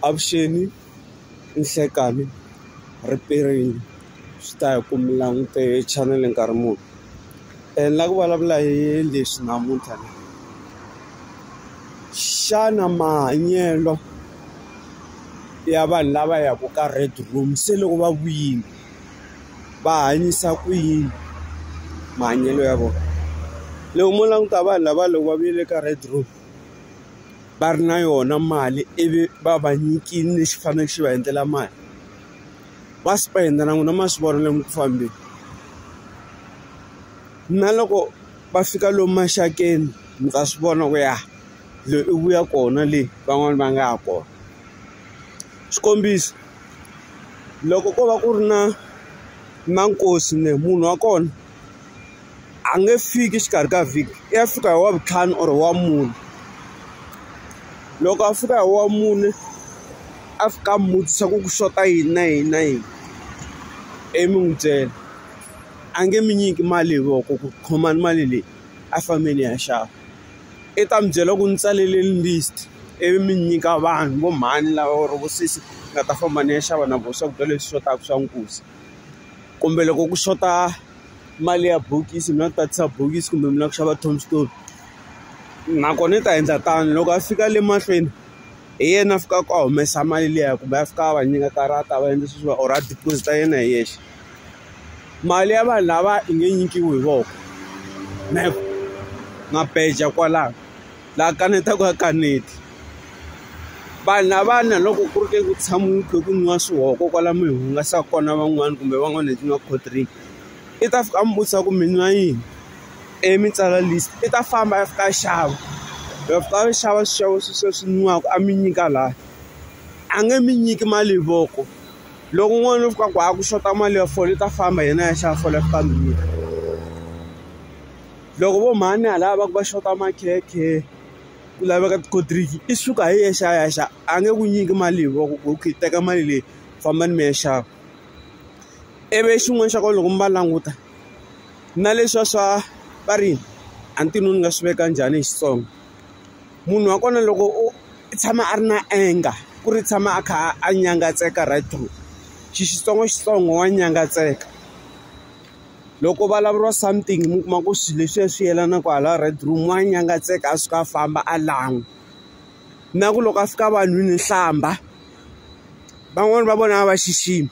Avuxeni ninhlekani ripiriyini swi ta hi ku mi langute chanele nkarhi muni ni lava ku vulavula hi leswi namuntlha ni xana mahanyelo ya vanhu lava yaka ka red room se loko va vuyile va hanyisa ku yini mahanyelo ya vona loko mo languta vanhu lava loko va vuyele ka red room. va ri na yona mali ivi va va nyikile lexi faneleke xi va endlela mali va spend-a na n'wina ma swi vona lomu ku fambeni na loko va fika lomu maxakeni mi ta swi vona ku ya loyi i vuya kona le van'wani va nga ya kona xikombiso loko ko va ku ri na na nkosi munhu wa kona. a nge fiki exikarhi ka vhiki i ya fika hi wa vutlhanu or wa mune loko a fika hi wa mune a fika a mutisa ku ku xota yini na yini na yini ivi mi n'wi byela a nge mi nyiki mali hi voko ku khomani mali leyi a fambeni ya xava i ta mi byela ku ni tsalele list ivi mi nyika vanhu vo mhani lava or vo sesi nga ta famba ni ya xava na vona swakudya leswi xotaka swa nkuzi. kumbe loko ku xota mali ya bokisi mi nga tatisa bokisi kumbe mi lava ku xava tombstone nakona i ta endla tano loko a fika le mahlweni hi yena a fikaka a humesa mali liya kumbe a fika a va nyika karata va endla sweswiwa or a deposit a yena hi yexe mali ya vanhu lava yi nge nyikiwi hi voko na ku nga beja kwalano. la kanetaka ya kaneta vanhu lavana loko ku ri ke ku tshama u kha ku nwiwa swihoko kwala mi hungasa kona van'wani kumbe van'wani hi tin'wani cold drink i ta fika a mi vutisa ku mi nwa yini i mi tsala list i ta famba a fika a xava loko fika a xava swixevo sweswiya swi nwiwaka a mi nyika laha a nge mi nyiki mali hi voko loko n'wana u fika ku a ku xota mali ya fole u ta famba hi yena a ya xava fole a fika a mi nyika. loko vo mhani hala va ku va xota makhekhe ku laveka ti-cold drink i suka hi yexe a ya xava a nge ku nyiki mali hi voko ku okay teka mali leyi fambani mi ya xava ivi xin'wana xa kona loko mi va languta na leswiya swa va ri a ni tivi ni nga swi veka njhani hi Xitsonga munhu wa kona loko u tshama a ri na anger ku ri tshama a kha a nyangatseka right through xi Xitsongo Xitsongo wa nyangatseka. loko ku vulavuriwa something mi kuma ku swilo leswiya swi yelana kwala red room wa nyangatseka a suka a famba a lan'wa na ku loko a fika vanhwini hlamba van'wani va vona a va xiximi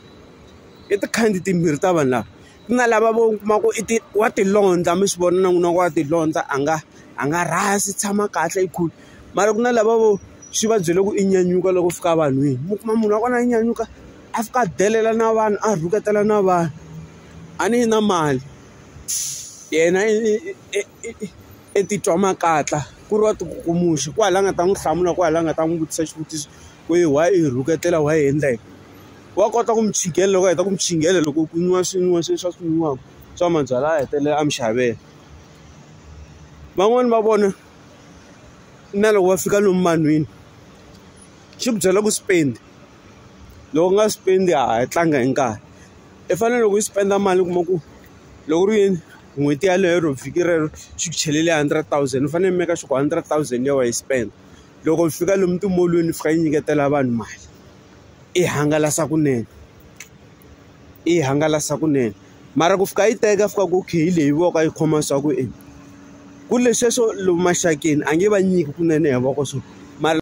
i tikhandi timbirhi ta vanhu lava ku na lava vo kuma ku i ti wa tilondza mi swi vona na n'wina wa tilondza a nga a nga rhasi tshama kahle i cool mara ku na lava vo swi va byele ku i nyanyuka loko fika vanhwini mi kuma munhu wa kona a nyanyuka a fika a delela na vanhu a rhuketela na vanhu. a ni yi na mali yena i titwa makatla ku ri wa ti ku muxe ku hala a nga ta n'wi hlamula ku hala a nga ta n'wi vutisa xivutiso ku yi why i rhuketela why i endla yini wa kota ku mi chingela loko a heta ku mi chingela loko ku nwiwa swi nwiwa swe swa swi nwiwaka swa mabyalwa a hetelela a mi xavela van'wani va vona na loko va fika lomu vanhwini xi ku byela ku spend. loko u nga spend a hi tlanga hi nkarhi i fanele loko u spend mali u kuma ku loko ku ri yini n'hweti yeleyo ro vhiki rero xi ku chelele hundred thousand u fanele u make sure ku hundred thousand leyi wa yi spend loko u fika lomu timolweni fika yi nyiketela vanhu mali i hangalasa kunene i hangalasa kunene mara ku fika yi teka fika ku okay hi leyi voko yi khoma swa ku ku ri leswiya swo lomu maxakeni a nge va nyiki kunene hi voko swo mara.